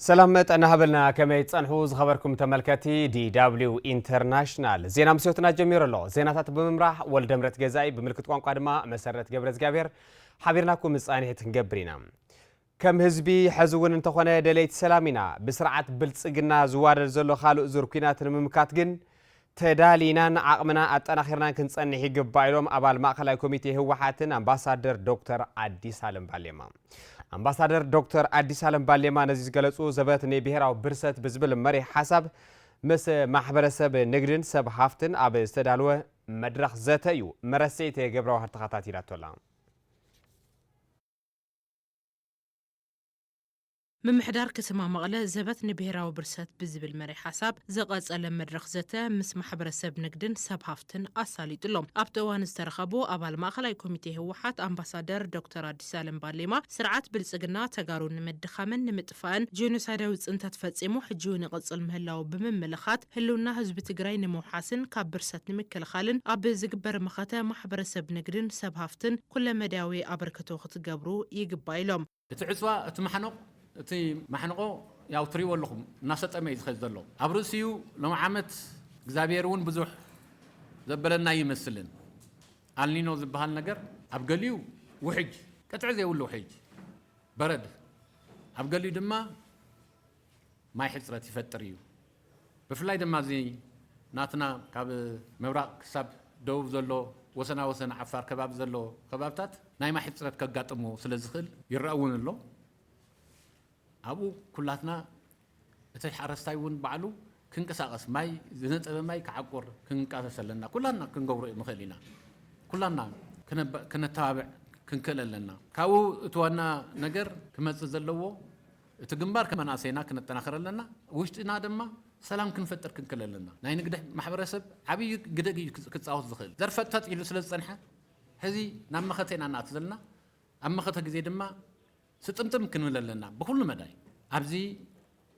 ሰላም ጥዕና ሃበልና ከመይ ትጸንሑ ዝኸበርኩም ተመልከቲ ዲw ኢንተርናሽናል ዜና ምስዮትና ጀሚሩ ኣሎ ዜናታት ብምምራሕ ወልደምረት ገዛኢ ብምልክት ቋንቋ ድማ መሰረት ገብረ እግዚኣብሔር ሓቢርናኩም ምጻኒሒት ክንገብር ኢና ከም ህዝቢ ሕዚ እውን እንተኾነ ደለይቲ ሰላም ኢና ብስርዓት ብልፅግና ዝዋደድ ዘሎ ካልእ ዙር ኩናት ንምምካት ግን ተዳሊናን ዓቕምና ኣጠናኺርናን ክንፀንሕ ይግባእ ኢሎም ኣባል ማእኸላይ ኮሚቴ ህወሓትን ኣምባሳደር ዶክተር ኣዲስ ኣለም ባሌማ። ኣምባሳደር ዶክተር ኣዲስ ኣለም ባሌማ ነዚ ዝገለፁ ዘበት ንብሄራዊ ብርሰት ብዝብል መሪሕ ሓሳብ ምስ ማሕበረሰብ ንግድን ሰብ ሃፍትን ኣብ ዝተዳለወ መድረኽ ዘተ እዩ። መረሴት ገብረዋህር ተኸታቲላቶ ኣላ። ምምሕዳር ከተማ መቐለ ዘበት ንብሄራዊ ብርሰት ብዝብል መሪሕ ሓሳብ ዝቐፀለ መድረኽ ዘተ ምስ ማሕበረሰብ ንግድን ሰብ ሃፍትን ኣሳሊጡ ኣሎ። ኣብቲ እዋን ዝተረኸቡ ኣባል ማእኸላይ ኮሚቴ ህወሓት ኣምባሳደር ዶክተር ኣዲስኣለም ባሌማ ስርዓት ብልፅግና ተጋሩ ንምድኻምን ንምጥፋእን ጄኖሳይዳዊ ፅንተት ፈፂሙ ሕጂ እውን ይቕፅል ምህላዉ ብምምልኻት ህልውና ህዝቢ ትግራይ ንምውሓስን ካብ ብርሰት ንምክልኻልን ኣብ ዝግበር መኸተ ማሕበረሰብ ንግድን ሰብ ሃፍትን ኩለመዳያዊ ኣበርክቶ ክትገብሩ ይግባእ ኢሎም። እቲ ዕጽዋ እቲ ማሕነቕ እቲ ማሕንቖ ያው ትሪእዎ ኣለኹም እናሰጠመ እዩ ዝኸድ ዘሎ ኣብ ርእሲኡ ሎም ዓመት እግዚኣብሔር እውን ብዙሕ ዘበለና ኣይመስልን ኣልኒኖ ዝበሃል ነገር ኣብ ገሊኡ ውሕጅ ቅጥዒ ዘይብሉ ውሕጅ በረድ ኣብ ገሊኡ ድማ ማይ ሕጽረት ይፈጥር እዩ። ብፍላይ ድማ ኣብዚ ናትና ካብ ምብራቕ ክሳብ ደቡብ ዘሎ ወሰና ወሰን ዓፋር ከባቢ ዘሎ ከባብታት ናይ ማይ ሕጽረት ከጋጥሞ ስለ ዝኽእል፣ ይረኣ እውን ኣሎ፣ ኣብኡ ኩላትና እቲ ሓረስታይ እውን ባዕሉ ክንቀሳቐስ ማይ ዝነጸበ ማይ ክዓቁር ክንቃሰስ ኣለና። ኩላትና ክንገብሮ ንኽእል ኢና። ኩላትና ክነተባብዕ ክንክእል ኣለና። ካብኡ እቲ ዋና ነገር ክመጽእ ዘለዎ፣ እቲ ግንባር ከም መናእሰይና ክነጠናኽር ኣለና፣ ውሽጥና ድማ ሰላም ክንፈጥር ክንክል ኣለና። ናይ ንግደ ማሕበረሰብ ዓብይ ግደ እዩ ክፃወት ዝኽእል። ዘርፈጥፈጥ ኢሉ ስለ ዝፀንሐ ሕዚ ናብ መኸተ ኢና ንኣቱ ዘለና። ኣብ መኸተ ግዜ ድማ ስጥምጥም ክንብል ኣለና ብኹሉ መዳይ። ኣብዚ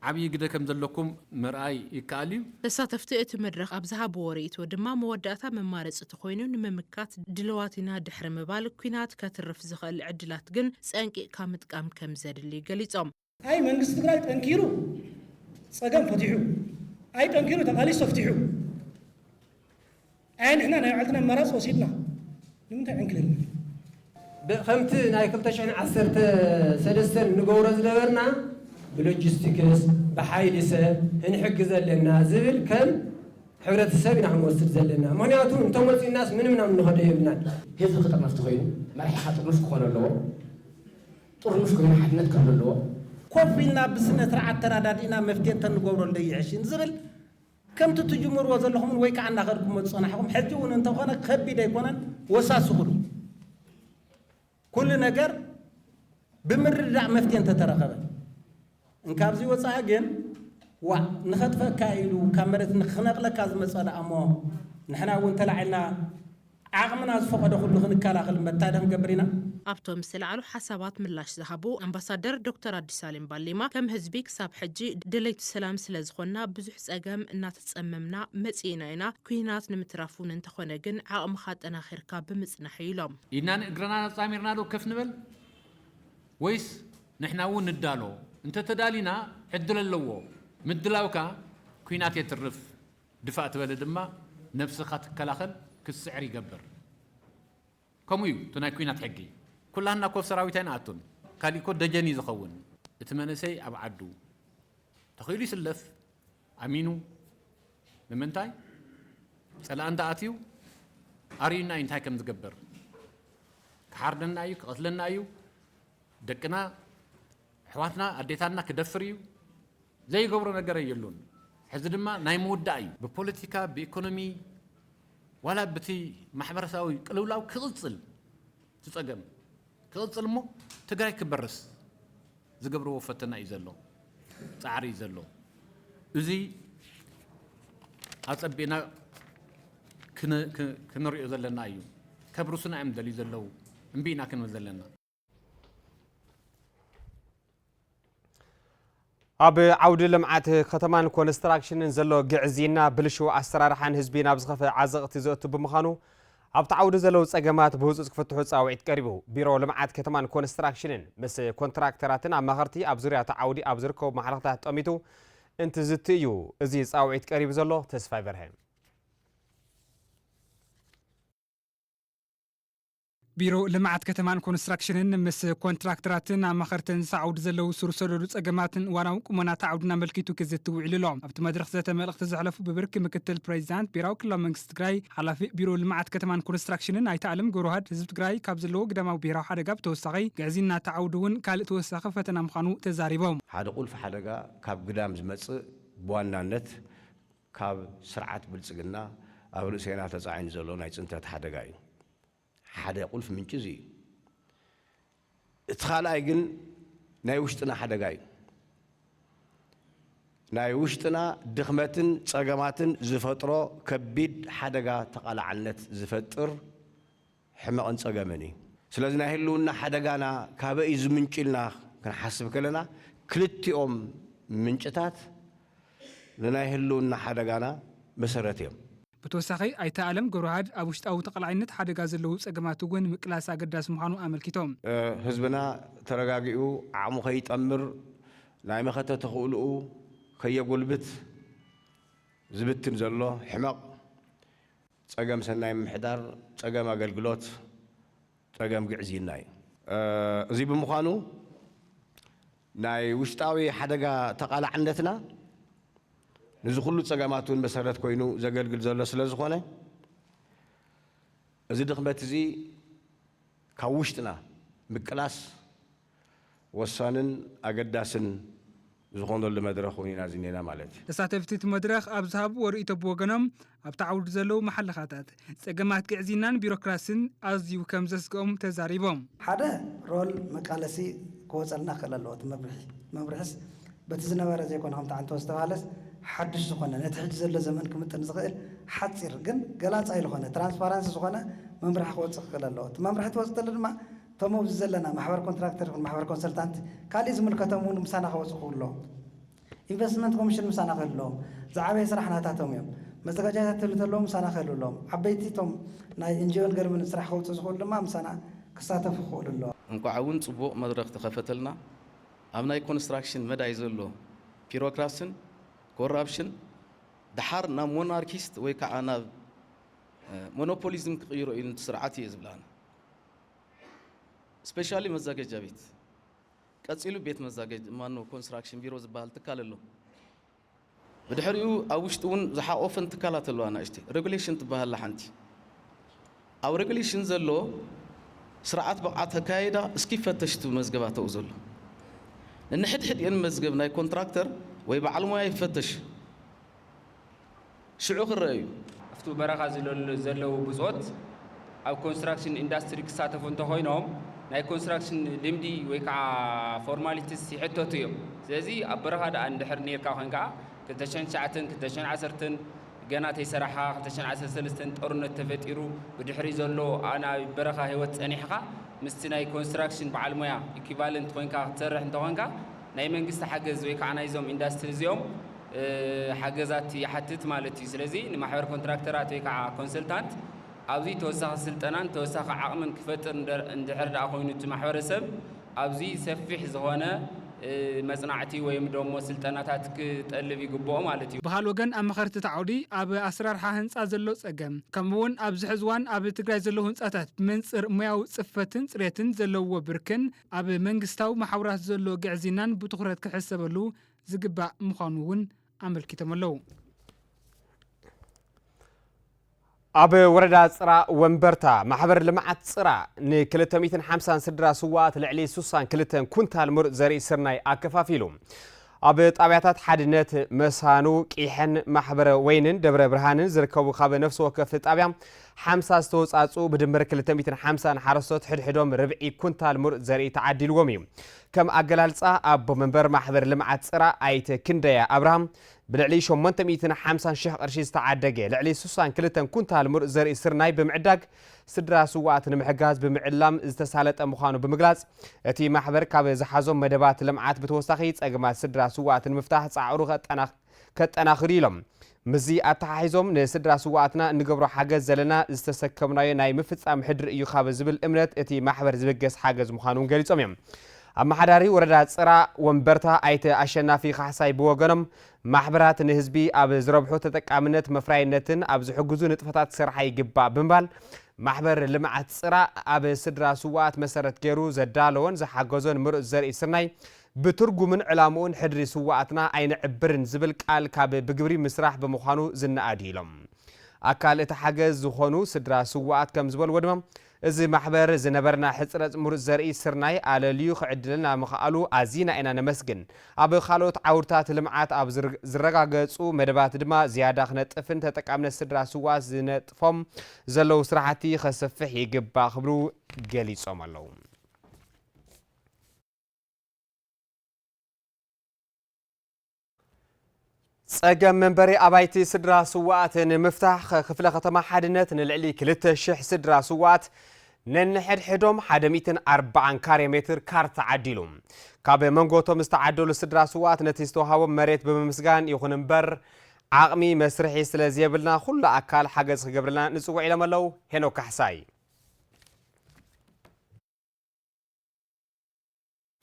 ዓብይ ግደ ከም ዘለኩም ምርኣይ ይከኣል እዩ። ተሳተፍቲ እቲ መድረኽ ኣብ ዝሃብዎ ርእይቶ ድማ መወዳእታ መማረፂ ተኾይኑ ንምምካት ድልዋት ኢና ድሕሪ ምባል ኲናት ከትርፍ ዝኽእል ዕድላት ግን ፀንቂቕካ ምጥቃም ከምዘድሊ ገሊፆም። ኣይ መንግስቲ ትግራይ ጠንኪሩ ፀገም ፈቲሑ ኣይ ጠንኪሩ ተቃሊሱ ተፍቲሑ። ኣየ ንሕና ናይ ባዕልትና ኣማራጺ ወሲድና ንምንታይ ዕንክሊል ንብል? ብ ከምቲ ናይ ክልተ ሽሕን ዓሰርተ ሰለስተን ንገብሮ ዝነበርና ብሎጂስቲክስ፣ ብሓይሊ ሰብ፣ ህንሕግዝ ኣለና ዝብል ከም ሕብረተሰብ ኢና ክንወስድ ዘለና። ምክንያቱ እንተመጺኡናስ ምንም ናብ እንኸዶ የብልናን። ህዝቢ ክጥርነፍ ተኾይኑ መራሒኻ ጥርኑፍ ክኾኖ ኣለዎ። ጥርኑፍ ኮይኑ ሓድነት ክህሉ ኣለዎ። ኮፍ ኢልና ብስነስርዓት ተራዳዲእና መፍትሔ እንተንገብሮ እንዶ ይሕሽ ንዝብል ከምቲ ትጅምርዎ ዘለኹምን ወይ ከኣ እናኸድኩሞ ዝጸናሕኹም ሕጂ እውን እንተኾነ ከቢድ ኣይኮነን ወሳስኹሉ ኩሉ ነገር ብምርድዳእ መፍትሔ እንተተረኸበ እንካብዚ ወጻኢ ግን ዋእ ንኸጥፈእካ ኢሉ ካብ መሬት ንክነቕለካ ዝመጸ ደኣሞ ንሕና እውን ተላዒልና ዓቕምና ዝፈቐዶ ኩሉ ክንከላኸል መታደኽ ንገብር ኢና። ኣብቶም ዝተልዓሉ ሓሳባት ምላሽ ዝሃቡ ኣምባሳደር ዶክተር ኣዲሳሌም ባሌማ፣ ከም ህዝቢ ክሳብ ሕጂ ደለይቲ ሰላም ስለዝኾንና ብዙሕ ፀገም እናተፀመምና መፂእና ኢና፣ ኲናት ንምትራፍ እውን እንተኾነ ግን ዓቕምኻ ኣጠናኺርካ ብምፅናሕ እዩ ኢሎም። ኢድናን እግርናን ኣፃሚርና ዶ ከፍ ንበል ወይስ ንሕና እውን ንዳሎ? እንተተዳሊና ዕድል ኣለዎ። ምድላውካ ኲናት የትርፍ። ድፋእ ትበለ ድማ ነብስኻ ትከላኸል ክትስዕር ይገብር ከምኡ እዩ እቲ ናይ ኩናት ሕጊ ኩላህና እኮ ኣብ ሰራዊት ኣይንኣቱን ካሊእ እኮ ደጀን እዩ ዝኸውን እቲ መንእሰይ ኣብ ዓዱ ተኺኢሉ ይስለፍ ኣሚኑ ንምንታይ ጸላኢ እንተኣትዩ ኣርእዩና እዩ እንታይ ከም ዝገበር ክሓርደና እዩ ክቐትለና እዩ ደቅና ኣሕዋትና ኣዴታትና ክደፍር እዩ ዘይገብሮ ነገረ የሎን ሕዚ ድማ ናይ ምውዳእ እዩ ብፖለቲካ ብኢኮኖሚ ዋላ ብቲ ማሕበረሰባዊ ቅልውላው ክቕጽል ትጸገም ክቕጽል እሞ ትግራይ ክበርስ ዝገብርዎ ፈተና እዩ ዘሎ ጻዕሪ እዩ ዘሎ እዚ ኣጸቢእና ክንሪኦ ዘለና እዩ ከብርሱና እዮም ደልዩ ዘለው እምቢ ኢና ክንብል ዘለና ኣብ ዓውዲ ልምዓት ከተማን ኮንስትራክሽንን ዘሎ ግዕዝይና ብልሽው ኣሰራርሓን ህዝቢ ናብ ዝኸፈ ዓዘቕቲ ዘእቱ ብምዃኑ ኣብቲ ዓውዲ ዘለዉ ጸገማት ብህፁፅ ክፍትሑ ፃውዒት ቀሪቡ ቢሮ ልምዓት ከተማን ኮንስትራክሽንን ምስ ኮንትራክተራትን ኣማኸርቲ ኣብ ዙርያ እቲ ዓውዲ ኣብ ዝርከቡ ማሕለኽታት ጠሚቱ እንትዝቲ እዩ እዚ ፃውዒት ቀሪቡ ዘሎ ተስፋይ በርሀ ቢሮ ልምዓት ከተማን ኮንስትራክሽንን ምስ ኮንትራክተራትን ኣማኸርትን ዝሳ ዓውዲ ዘለዉ ሱር ሰደዱ ፀገማትን እዋናዊ ቁመና እቲ ዓውዲን ኣመልኪቱ ክዝቲ ውዒሉ ኣሎ። ኣብቲ መድረኽ ዘተ መልእኽቲ ዘሕለፉ ብብርኪ ምክትል ፕሬዚዳንት ብሄራዊ ክልላዊ መንግስቲ ትግራይ ሓላፊ ቢሮ ልምዓት ከተማን ኮንስትራክሽንን ኣይተ ኣለም ገብረውሃድ ህዝቢ ትግራይ ካብ ዘለዎ ግዳማዊ ብሄራዊ ሓደጋ ብተወሳኺ ግዕዝይና እቲ ዓውዲ እውን ካሊእ ተወሳኺ ፈተና ምዃኑ ተዛሪቦም። ሓደ ቁልፊ ሓደጋ ካብ ግዳም ዝመፅእ ብዋናነት ካብ ስርዓት ብልጽግና ኣብ ርእሴና ተጻዒኑ ዘሎ ናይ ጽንተት ሓደጋ እዩ። ሓደ ቁልፊ ምንጪ እዚ እዩ። እቲ ካልኣይ ግን ናይ ውሽጥና ሓደጋ እዩ። ናይ ውሽጥና ድኽመትን ጸገማትን ዝፈጥሮ ከቢድ ሓደጋ ተቓላዕነት ዝፈጥር ሕመቕን ጸገምን እዩ። ስለዚ ናይ ህልውና ሓደጋና ካበይ እዩ ዝምንጩ ኢልና ክንሓስብ ከለና ክልቲኦም ምንጭታት ንናይ ህልውና ሓደጋና መሰረት እዮም። ብተወሳኺ ኣይተ ኣለም ገብረውሃድ ኣብ ውሽጣዊ ተቓላዒነት ሓደጋ ዘለዉ ጸገማት እውን ምቅላስ ኣገዳሲ ምዃኑ ኣመልኪቶም። ህዝብና ተረጋጊኡ ዓቕሙ ከይጠምር ናይ መኸተ ተኽእልኡ ከየጎልብት ዝብትን ዘሎ ሕመቕ ፀገም ሰናይ ምምሕዳር፣ ፀገም ኣገልግሎት፣ ፀገም ግዕዝይና እዩ። እዙይ ብምዃኑ ናይ ውሽጣዊ ሓደጋ ተቓላዕነትና ንዚ ኩሉ ፀገማት እውን መሰረት ኮይኑ ዘገልግል ዘሎ ስለ ዝኾነ እዚ ድኽመት እዙይ ካብ ውሽጥና ምቅላስ ወሳንን ኣገዳስን ዝኾነሉ መድረኽ እውን ኢና ዝኒኤና ማለት እዩ። ተሳተፍቲ እቲ መድረኽ ኣብ ዝሃብዎ ርእይቶ ብወገኖም ኣብቲ ዓውዲ ዘለዉ መሓለኻታት ፀገማት ግዕዝይናን ቢሮክራሲን ኣዝዩ ከምዘስገኦም ተዛሪቦም። ሓደ ሮል መቃለሲ ክወፀልና ክኽእል ኣለዎ እቲ መምርሒ። መምርሒስ በቲ ዝነበረ ዘይኮነ ከምቲ ዓንተቦ ዝተብሃለስ ሓዱሽ ዝኾነ ነቲ ሕጂ ዘሎ ዘመን ክምጥን ዝኽእል ሓፂር ግን ገላፃይ ልኾነ ትራንስፓራንሲ ዝኾነ መምርሒ ክወፅእ ክኽእል ኣለዎ። እቲ መምርሒ ተወፅእ ተሎ ድማ እቶም ኣብዚ ዘለና ማሕበር ኮንትራክተር ይኹን ማሕበር ኮንሰልታንት ካሊእ ዝምልከቶም እውን ምሳና ክወፁ ክብሎ። ኢንቨስትመንት ኮሚሽን ምሳና ክህልዎ። ዝዓበየ ስራሕ ናታቶም እዮም። መዘጋጃይታ ትህሉ ተለዉ ምሳና ክህልውሎም። ዓበይቲ እቶም ናይ እንጅዮን ገርምን ስራሕ ከውፅኡ ዝኽእሉ ድማ ምሳና ክሳተፉ ክኽእሉ ኣለዎ። እንኳዕ እውን ፅቡቕ መድረኽ ተኸፈተልና። ኣብ ናይ ኮንስትራክሽን መዳይ ዘሎ ፒሮክራስን ኮራፕሽን ደሓር ናብ ሞናርኪስት ወይ ከዓ ናብ ሞኖፖሊዝም ክቕይሮ እዩ ንቲ ስርዓት እየ ዝብል ኣነ። ስፔሻሊ መዛገጃ ቤት ቀጺሉ ቤት መዛገጅ ማኖ ኮንስትራክሽን ቢሮ ዝበሃል ትካል ኣሎ። ብድሕሪኡ ኣብ ውሽጢ እውን ዝሓቆፈን ትካላት ኣለዋ ናእሽቲ ሬጉሌሽን ትበሃል ኣላ ሓንቲ ኣብ ሬጉሌሽን ዘሎ ስርዓት ብቕዓት ኣካያይዳ እስኪ ይፈተሽ እቲ መዝገባ ተኡ ዘሎ ንንሕድሕድኤን መዝገብ ናይ ኮንትራክተር ወይ በዓል ሞያ ይፈተሽ ሽዑ ክረኣ እዩ። ኣብቲ በረኻ ዘለዉ ብጾት ኣብ ኮንስትራክሽን ኢንዳስትሪ ክሳተፉ እንተኾይኖም ናይ ኮንስትራክሽን ልምዲ ወይ ከዓ ፎርማሊቲስ ይሕተቱ እዮም። ስለዚ ኣብ በረኻ ደኣ እንድሕር ኔርካ ኮይንካ ክልተ ሽሕን ትሽዓተን ክልተ ሽሕን ዓሰርተን ገና ተይሰራሕኻ ክልተ ሽሕን ዓሰርተ ሰለስተን ጦርነት ተፈጢሩ ብድሕሪ ዘሎ ናይ በረኻ ህይወት ጸኒሕኻ ምስቲ ናይ ኮንስትራክሽን በዓል ሞያ ኢኩቫለንት ኮይንካ ክትሰርሕ እንተኾንካ ናይ መንግስቲ ሓገዝ ወይ ከዓ ናይዞም ኢንዳስትሪ እዚኦም ሓገዛት ይሓትት ማለት እዩ። ስለዚ ንማሕበር ኮንትራክተራት ወይ ከዓ ኮንሰልታንት ኣብዚ ተወሳኺ ስልጠናን ተወሳኺ ዓቕምን ክፈጥር እንድሕር ድኣ ኮይኑ እቲ ማሕበረሰብ ኣብዚ ሰፊሕ ዝኾነ መፅናዕቲ ወይም ደሞ ስልጠናታት ክጠልብ ይግበኦ ማለት እዩ። ብኻልእ ወገን ኣማኸርቲ እቲ ዓውዲ ኣብ ኣሰራርሓ ህንፃ ዘሎ ፀገም ከምኡ እውን ኣብዚ ሕዚ እዋን ኣብ ትግራይ ዘለዉ ህንፃታት ብመንፅር ሞያዊ ፅፈትን ፅሬትን ዘለዉዎ ብርክን ኣብ መንግስታዊ መሓውራት ዘሎ ግዕዝይናን ብትኹረት ክሕሰበሉ ዝግባእ ምዃኑ እውን ኣመልኪቶም ኣለው። ኣብ ወረዳ ፅራ ወንበርታ ማሕበር ልምዓት ፅራ ን250 ስድራ ስዋኣት ልዕሊ 62 ኩንታል ምሩፅ ዘርኢ ስርናይ ኣከፋፊሉ። ኣብ ጣብያታት ሓድነት፣ መሳኑ፣ ቂሐን፣ ማሕበረ ወይንን ደብረ ብርሃንን ዝርከቡ ካብ ነፍሲ ወከፍ ጣብያ ሓምሳ ዝተወፃፅኡ ብድምር ክልተ ሚእትን ሓምሳን ሓረስቶት ሕድሕዶም ርብዒ ኩንታል ሙሩፅ ዘርኢ ተዓዲልዎም እዩ። ከም ኣገላልፃ ኣቦ መንበር ማሕበር ልምዓት ፅራ ኣይተ ክንደያ ኣብርሃም ብልዕሊ ሸሞንተ ሚእትን ሓምሳን ሽሕ ቅርሺ ዝተዓደገ ልዕሊ ስሳን ክልተን ኩንታል ሙሩፅ ዘርኢ ስርናይ ብምዕዳግ ስድራ ስውኣት ንምሕጋዝ ብምዕላም ዝተሳለጠ ምዃኑ ብምግላፅ፣ እቲ ማሕበር ካብ ዝሓዞም መደባት ልምዓት ብተወሳኺ ፀገማት ስድራ ስውኣት ንምፍታሕ ፃዕሩ ከጠናኽር ኢዩ ኢሎም። ምስዚ ኣተሓሒዞም ንስድራ ስውኣትና እንገብሮ ሓገዝ ዘለና ዝተሰከምናዮ ናይ ምፍፃም ሕድሪ እዩ ካብ ዝብል እምነት እቲ ማሕበር ዝብገስ ሓገዝ ምዃኑ እውን ገሊፆም እዮም። ኣመሓዳሪ ወረዳ ፅራ ወንበርታ ኣይተ ኣሸናፊ ካሕሳይ ብወገኖም ማሕበራት ንህዝቢ ኣብ ዝረብሑ ተጠቃምነት መፍራይነትን ኣብ ዝሕግዙ ንጥፈታት ክሰርሓ ይግባእ ብምባል፣ ማሕበር ልምዓት ፅራእ ኣብ ስድራ ስውኣት መሰረት ገይሩ ዘዳለዎን ዝሓገዞን ምሩፅ ዘርኢ ስርናይ ብትርጉምን ዕላምኡን ሕድሪ ስውኣትና ኣይነዕብርን ዝብል ቃል ካብ ብግብሪ ምስራሕ ብምዃኑ ዝነኣድ እዩ ኢሎም። ኣካል እቲ ሓገዝ ዝኾኑ ስድራ ስውኣት ከምዝበልዎ ድማ፣ እዚ ማሕበር ዝነበረና ሕጽረት ምሩጽ ዘርኢ ስርናይ ኣለልዩ ክዕድለና ምኽኣሉ ኣዚና ኢና ነመስግን። ኣብ ካልኦት ዓውድታት ልምዓት ኣብ ዝረጋገጹ መደባት ድማ ዝያዳ ክነጥፍን ተጠቃምነት ስድራ ስውኣት ዝነጥፎም ዘለዉ ስራሕቲ ከስፍሕ ይግባእ ክብሉ ገሊጾም ኣለዉ። ፀገም መንበሪ ኣባይቲ ስድራ ስዋኣት ንምፍታሕ ክፍለ ከተማ ሓድነት ንልዕሊ 2,000 ስድራ ስዋኣት ነንሕድሕዶም 140 ካሬ ሜትር ካርታ ዓዲሉ ካብ መንጎቶም ዝተዓደሉ ስድራ ስዋኣት ነቲ ዝተዋሃቦም መሬት ብምምስጋን ይኹን እምበር ዓቕሚ መስርሒ ስለ ዘየብልና ኩሉ ኣካል ሓገዝ ክገብርልና ንፅውዕ ኢሎም ኣለው ሄኖክ ካሕሳይ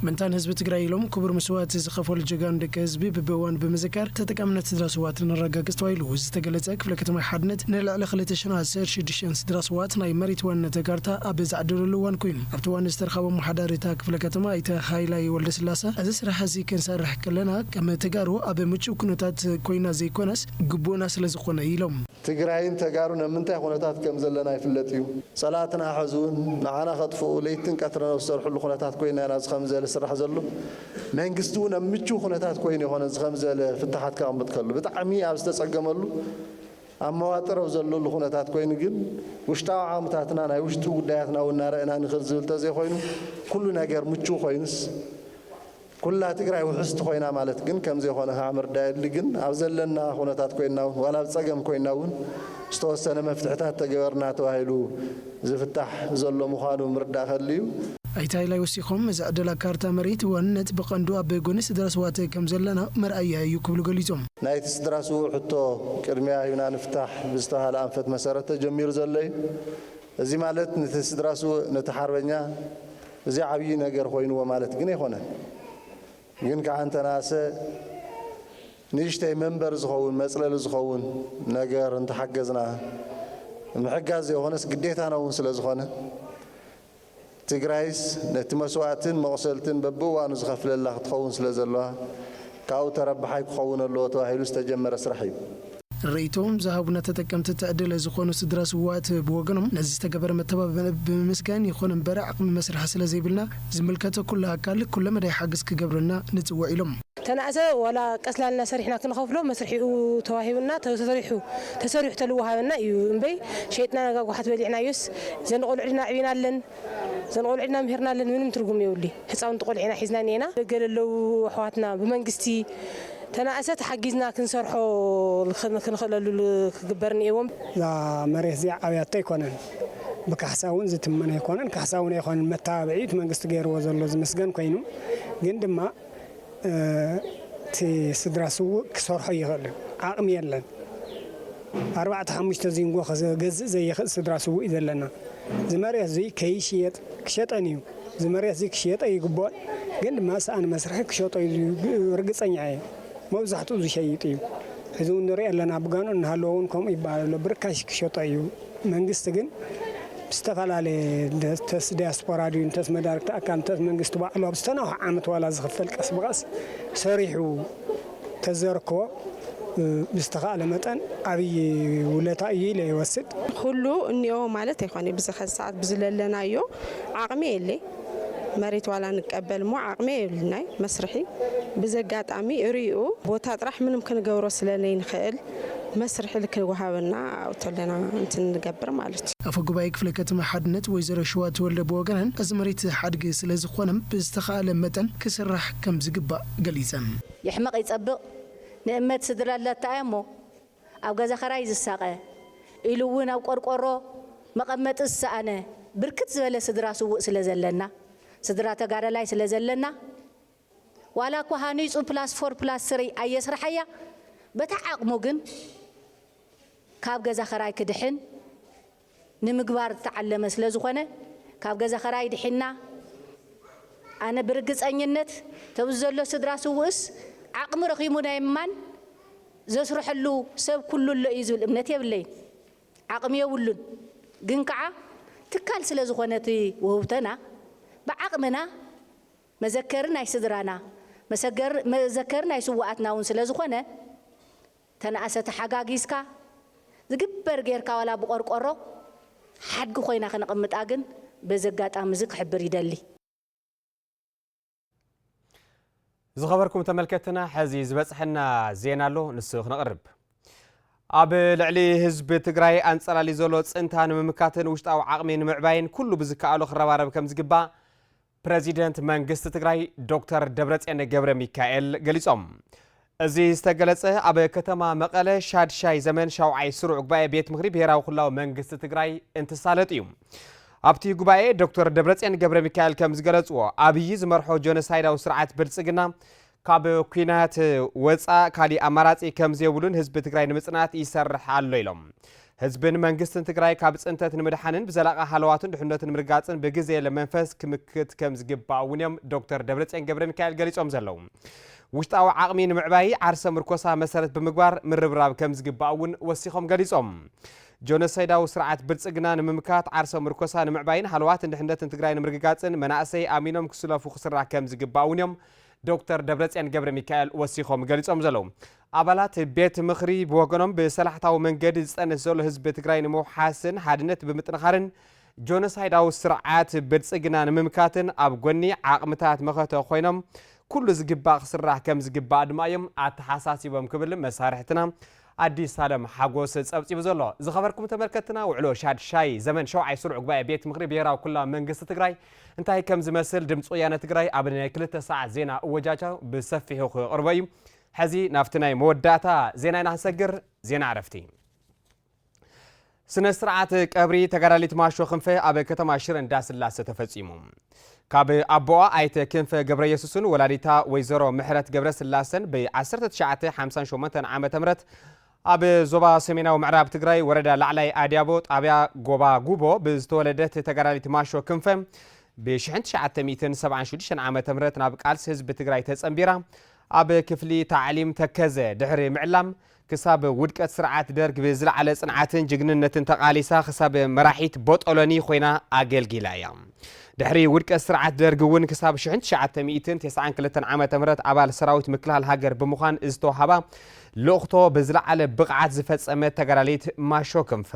ምንታን ህዝቢ ትግራይ ኢሎም ክቡር መስዋእቲ ዝኸፈሉ ጀጋኑ ደቂ ህዝቢ ብብእዋኑ ብምዝካር ተጠቃምነት ስድራ ስውኣት ነረጋግፅ ተባሂሉ ዝተገለፀ ክፍለ ከተማ ሓድነት ንልዕሊ ክልተ ሽሕ ኣስር ሽዱሽተ ስድራ ስውኣት ናይ መሬት ዋንነተ ካርታ ኣብ ዝዓደለሉ እዋን ኮይኑ ኣብቲ እዋን ዝተረኸቦ ኣመሓዳሪ እታ ክፍለ ከተማ ኣይተ ሃይላይ ወልደስላሰ እዚ ስራሕ እዚ ክንሰርሕ ከለና ከም ተጋሩ ኣብ ምቹው ኩነታት ኮይና ዘይኮነስ ግቡእና ስለዝኾነ ኢሎም። ትግራይን ተጋሩን ኣብ ምንታይ ኹነታት ከም ዘለና ይፍለጥ እዩ። ፀላእትና ሐዚ እውን ንዓና ከጥፍኡ ለይትን ቀትርን ኣብ ዝሰርሕሉ ኹነታት ኮይና ኢና እዚ ኸምዚ ዝበለ ዝስራሕ ዘሎ። መንግስቲ እውን ኣብ ምችው ኹነታት ኮይኑ ኣይኾነን እዚ ኸምዚ ዝበለ ፍታሓት ከቐምጥ ከሎ። ብጣዕሚ ኣብ ዝተፀገመሉ ኣብ መዋጥር ኣብ ዘለሉ ኹነታት ኮይኑ ግን ውሽጣዊ ዓቕምታትና ናይ ውሽጢ ጉዳያትና እውን እናረእና ንኽድ ዝብል ተዘይኾይኑ ኩሉ ነገር ምችው ኮይኑስ ኩላ ትግራይ ውሕስቲ ኮይና ማለት ግን ከምዘይኮነ ከዓ ምርዳእ የድሊ። ግን ኣብ ዘለና ኩነታት ኮይንና እውን ዋላ ኣብ ፀገም ኮይንና እውን ዝተወሰነ መፍትሕታት ተገበርና ተባሂሉ ዝፍታሕ ዘሎ ምኳኑ ምርዳእ ከድሊ እዩ። ኣይተ ሃይላይ ወሲኾም፣ እዚ ዕደላ ካርታ መሬት ዋንነት ብቐንዱ ኣብ ጎኒ ስድራ ስውኣት ከምዘለና መርኣያ እዩ ክብሉ ገሊፆም። ናይቲ ስድራ ስውእ ሕቶ ቅድሚያ ሂብና ንፍታሕ ብዝተብሃለ ኣንፈት መሰረት ተጀሚሩ ዘሎ እዩ። እዚ ማለት ንቲ ስድራ ስውእ ነቲ ሓርበኛ፣ እዚ ዓብዪ ነገር ኮይንዎ ማለት ግን ኣይኮነን። ግን ከዓ እንተነኣሰ ንእሽተይ መንበሪ ዝኸውን፣ መፅለሊ ዝኸውን ነገር እንተሓገዝና፣ ምሕጋዝ ዘይኾነስ ግዴታና እውን ስለዝኾነ፣ ትግራይስ ነቲ መስዋእትን መቑሰልትን በቢእዋኑ ዝኸፍለላ ክትኸውን ስለዘለዋ ካብኡ ተረባሓይ ክኸውን ኣለዎ ተባሂሉ ዝተጀመረ ስራሕ እዩ። ርእይቶኦም ዝሃቡና ተጠቀምቲ ትዕድለ ዝኾኑ ስድራ ስውኣት ብወገኖም ነዚ ዝተገበረ መተባብዒ ብምምስገን ይኹን እምበር ዓቕሚ መስርሒ ስለዘይብልና ዝምልከቶ ኩሉ ኣካል ኩለ መዳይ ሓገዝ ክገብረልና ንፅውዕ ኢሎም። ተናእሰ ዋላ ቀስላ ኢልና ሰሪሕና ክንኸፍሎ መስርሒኡ ተዋሂቡና ተሰሪሑ ተሰሪሑ ተልወሃበና እዩ እምበይ ሸይጥና ነጋጉሓት በሊዕናዮስ ዘንቖልዑልና ኣዕቢናለን። ዘን ቆልዑ ኢልና ምሂርናለን ምንም ትርጉም የብሉይ ህፃውንቲ ቆልዒና ሒዝና እኒኤና ደገ ለለው ኣሕዋትና ብመንግስቲ ተናእሰ ተሓጊዝና ክንሰርሖ ክንኽእለሉ ክግበር እኒኤዎም። እዛ መሬት እዚኣ ዓብያቶ ኣይኮነን ብካሕሳ እውን ዝትመን ኣይኮነን ካሕሳ እውን ኣይኮነን መተባብዒ እዩ እቲ መንግስቲ ገይርዎ ዘሎ ዝምስገን ኮይኑ ግን ድማ እቲ ስድራ ስውእ ክሰርሖ ኣይኽእልን ዓቅሚ የለን ኣርባዕተ ሓሙሽተ ዚንጎ ክገዝእ ዘይኽእል ስድራ ስውእ እዩ ዘለና እዚ መሬት እዙይ ከይሽየጥ ክሸጠን እዩ እዚ መሬት እዙይ ክሽየጥ ኣይግቦኦን ግን ድማ ሰኣን መስርሒ ክሸጦ እዩ ርግፀኛ እየ መብዛሕትኡ ዝሸይጥ እዩ ሕዚ እውን ንሪኦ ኣለና ብጋኑ እናሃለወ እውን ከምኡ ይበሃል ኣሎ ብርካሽ ክሸጦ እዩ መንግስቲ ግን ብዝተፈላለየ እንተስ ዲያስፖራ ድዩ እንተስ መዳርግቲ ኣካል እንተስ መንግስቲ ባዕሉ ኣብ ዝተናውሐ ዓመት ዋላ ዝኽፈል ቀስ ብቐስ ሰሪሑ ተዘርክቦ ብዝተኻእለ መጠን ኣብይ ውለታ እዩ ኢለ ይወስድ። ኹሉ እኒኦ ማለት ኣይኮነይ ብዚ ኸዚ ሰዓት ብዝለለናዮ ዓቕሚ የለይ መሬት ዋላ ንቀበል እሞ ዓቕሚ የብልናይ መስርሒ ብዘጋጣሚ እሪኡ ቦታ ጥራሕ ምንም ክንገብሮ ስለለይንኽእል መስርሒ ልክዕ ወሃበና ኣብቶለና እንትንገብር ማለት እዩ። ኣፈ ጉባኤ ክፍለ ከተማ ሓድነት ወይዘሮ ሽዋ ተወልደ ብወገነን እዚ መሬት ሓድጊ ስለዝኾነ ብዝተኸኣለ መጠን ክስራሕ ከምዝግባእ ገሊፀን። ይሕመቕ ይፀብቕ ንእመት ስድራ ላተኣያሞ ኣብ ገዛ ኸራይ ዝሳቐ ኢሉ እውን ኣብ ቆርቆሮ መቐመጢ ዝሰኣነ ብርክት ዝበለ ስድራ ስውእ ስለዘለና ስድራ ተጋዳላይ ስለዘለና፣ ዋላ እኳ ሃኒጹ ፕላስ ፎር ፕላስ ስሪ ኣየስረሓያ በታ ዓቕሙ ግን ካብ ገዛ ኸራይ ክድሕን ንምግባር ዝተዓለመ ስለ ዝኾነ ካብ ገዛ ኸራይ ድሒና ኣነ ብርግጸኝነት ተብዚ ዘሎ ስድራ ስውእስ ዓቕሚ ረኺሙ ናይ ምማን ዘስረሐሉ ሰብ ኩሉ ኣሎ እዩ ዝብል እምነት የብለይን ዓቕሚ የብሉን ግን ከዓ ትካል ስለ ዝኾነ እቲ ውህብቶና ብዓቕምና መዘከሪ ናይ ስድራና፣ መዘከሪ ናይ ስውኣትና ውን ስለ ዝኾነ ተናእሰ ተሓጋጊዝካ ዝግበር ጌርካ ዋላ ብቆርቆሮ ሓድጊ ኮይና ክነቕምጣ ግን በዚ ኣጋጣሚ እዚ ክሕብር ይደሊ። ዝኸበርኩም ተመልከትና ሐዚ ዝበፅሐና ዜና ኣሎ ንሱ ክነቕርብ። ኣብ ልዕሊ ህዝቢ ትግራይ ኣንፀላሊ ዘሎ ፅንታ ንምምካትን ውሽጣዊ ዓቕሚ ንምዕባይን ኩሉ ብዝከኣሎ ክረባረብ ከምዝግባእ ፕረዚደንት መንግስቲ ትግራይ ዶክተር ደብረፅዮን ገብረ ሚካኤል ገሊፆም። እዚ ዝተገለፀ ኣብ ከተማ መቐለ ሻድሻይ ዘመን ሻውዓይ ስሩዕ ጉባኤ ቤት ምክሪ ብሄራዊ ክልላዊ መንግስቲ ትግራይ እንትሳለጥ እዩ። ኣብቲ ጉባኤ ዶክተር ደብረፅዮን ገብረ ሚካኤል ከም ዝገለፅዎ ኣብዪ ዝመርሖ ጆኖሳይዳዊ ስርዓት ብልፅግና ካብ ኩናት ወፃእ ካሊእ ኣማራፂ ከምዘይብሉን ህዝቢ ትግራይ ንምፅናት ይሰርሕ ኣሎ ኢሎም። ህዝብን መንግስትን ትግራይ ካብ ፅንተት ንምድሓንን ብዘላቒ ሃለዋቱን ድሕነቱን ንምርጋፅን ብግዜለ መንፈስ ክምክት ከም ዝግባእ እውን እዮም ዶክተር ደብረፅዮን ገብረ ሚካኤል ገሊፆም ዘለዉ። ውሽጣዊ ዓቕሚ ንምዕባይ ዓርሰ ምርኮሳ መሰረት ብምግባር ምርብራብ ከም ዝግባእ እውን ወሲኾም ገሊፆም። ጆኖሳይዳዊ ስርዓት ብልፅግና ንምምካት ዓርሰ ምርኮሳ ንምዕባይን ሃለዋትን ድሕነትን ትግራይ ንምርግጋፅን መናእሰይ ኣሚኖም ክስለፉ ክስራሕ ከም ዝግባእ እውን እዮም ዶክተር ደብረፅዮን ገብረሚካኤል ወሲኾም ገሊፆም ዘለዉ። ኣባላት ቤት ምኽሪ ብወገኖም ብሰላሕታዊ መንገዲ ዝፀንት ዘሎ ህዝቢ ትግራይ ንምውሓስን ሓድነት ብምጥንኻርን ጆኖሳይዳዊ ስርዓት ብልፅግና ንምምካትን ኣብ ጎኒ ዓቕምታት መኸተ ኮይኖም ኩሉ ዝግባእ ክስራሕ ከምዝግባእ ድማ እዮም ኣተሓሳሲቦም ክብል መሳርሕትና ኣዲስ ኣለም ሓጎስ ፀብፂቡ ዘሎ። ዝኸበርኩም ተመልከትትና ውዕሎ ሻድሻይ ዘመን ሸውዓይ ስሩዕ ጉባኤ ቤት ምኽሪ ብሄራዊ ክልላዊ መንግስቲ ትግራይ እንታይ ከም ዝመስል ድምፂ ወያነ ትግራይ ኣብ ናይ ክልተ ሰዓት ዜና እወጃጃ ብሰፊሑ ክቕርቦ እዩ። ሕዚ ናብቲ ናይ መወዳእታ ዜና ኢና ክንሰግር፣ ዜና ዕረፍቲ። ስነ ስርዓት ቀብሪ ተጋዳሊት ማሾ ክንፈ ኣብ ከተማ ሽረ እንዳስላሰ ተፈፂሙ። ካብ ኣቦኣ ኣይተ ክንፈ ገብረየሱስን ወላዲታ ወይዘሮ ምሕረት ገብረ ስላሰን ብ 1958 ዓ ም ኣብ ዞባ ሰሜናዊ ምዕራብ ትግራይ ወረዳ ላዕላይ ኣድያቦ ጣብያ ጎባ ጉቦ ብዝተወለደት ተጋዳሊት ማሾ ክንፈ ብ 1976 ዓ ም ናብ ቃልሲ ህዝቢ ትግራይ ተፀንቢራ ኣብ ክፍሊ ታዕሊም ተከዘ ድሕሪ ምዕላም ክሳብ ውድቀት ስርዓት ደርግ ብዝለዓለ ጽንዓትን ጅግንነትን ተቓሊሳ ክሳብ መራሒት ቦጦሎኒ ኮይና ኣገልጊላ እያ። ድሕሪ ውድቀት ስርዓት ደርግ እውን ክሳብ ሽሕን ትሽዓተ ሚእትን ተስዓን ክልተን ዓመተ ምህረት ኣባል ሰራዊት ምክልኻል ሃገር ብምዃን ዝተውሃባ ልእኽቶ ብዝለዓለ ብቕዓት ዝፈጸመት ተጋዳሊት ማሾ ክንፈ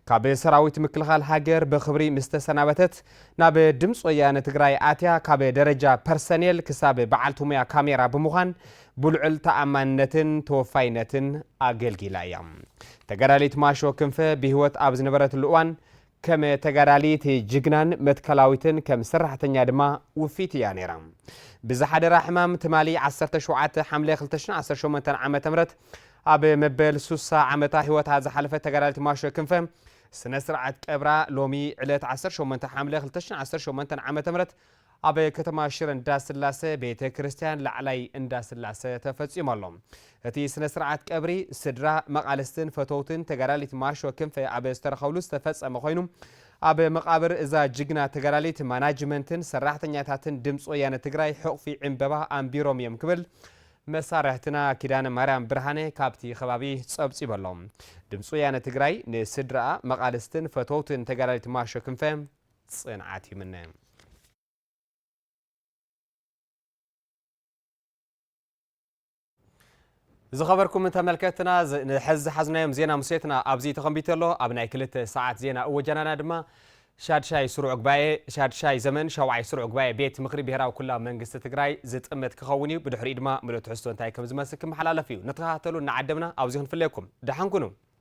ካብ ሰራዊት ምክልኻል ሃገር ብኽብሪ ምስ ተሰናበተት ናብ ድምፂ ወያነ ትግራይ ኣትያ ካብ ደረጃ ፐርሰኔል ክሳብ በዓልቲ ሙያ ካሜራ ብምዃን ብልዑል ተኣማንነትን ተወፋይነትን ኣገልጊላ እያ። ተጋዳሊት ማሾ ክንፈ ብህይወት ኣብ ዝነበረትሉ እዋን፣ ከም ተጋዳሊት ጅግናን መትከላዊትን ከም ሰራሕተኛ ድማ ውፍይቲ እያ ነይራ። ብዝሓደራ ሕማም ትማሊ ዓሰርተ ሸውዓተ ሓምለ ክልተ ሽሕን ዓሰርተ ሸሞንተን ዓመተ ምህረት ኣብ መበል ሱሳ ዓመታ ህይወታ ዝሓለፈት ተጋዳሊት ማሾ ክንፈ ስነ ስርዓት ቀብራ ሎሚ ዕለት ዓሰርተ ሸሞንተ ሓምለ ክልተ ሽሕን ዓሰርተ ሸሞንተን ዓመተ ምህረት ኣብ ከተማ ሽረ እንዳስላሰ ቤተ ክርስቲያን ላዕላይ እንዳስላሰ ተፈፂሙ ኣሎ። እቲ ስነ ስርዓት ቀብሪ ስድራ፣ መቓልስትን ፈተውትን ተጋዳሊት ማርሾ ክንፈ ኣብ ዝተረኸብሉ ዝተፈፀመ ኮይኑ ኣብ መቓብር እዛ ጅግና ተጋዳሊት ማናጅመንትን ሰራሕተኛታትን ድምፂ ወያነ ትግራይ ሕቑፊ ዕምበባ ኣንቢሮም እዮም ክብል መሳርሕትና ኪዳነ ማርያም ብርሃነ ካብቲ ከባቢ ፀብፂቡ ኣሎ። ድምፂ ወያነ ትግራይ ንስድራኣ፣ መቓልስትን ፈተውትን ተጋዳሊት ማርሾ ክንፈ ጽንዓት ይምነ። ዝኸበርኩም ተመልከትና ንሐዚ ዝሓዝናዮም ዜና ሙሴትና ኣብዚ ተኸንቢቱ ኣሎ ኣብ ናይ ክልተ ሰዓት ዜና እወጃናና ድማ ሻድሻይ ስሩዕ ጉባኤ ሻድሻይ ዘመን ሸውዓይ ስሩዕ ጉባኤ ቤት ምክሪ ብሄራዊ ኩላ መንግስቲ ትግራይ ዝጥምት ክኸውን እዩ ብድሕሪኡ ድማ ምሉእ ትሕዝቶ እንታይ ከም ዝመስል ክመሓላለፍ እዩ ንተኸታተሉ እናዓደምና ኣብዚ ክንፍለየኩም ደሓን ኩኑ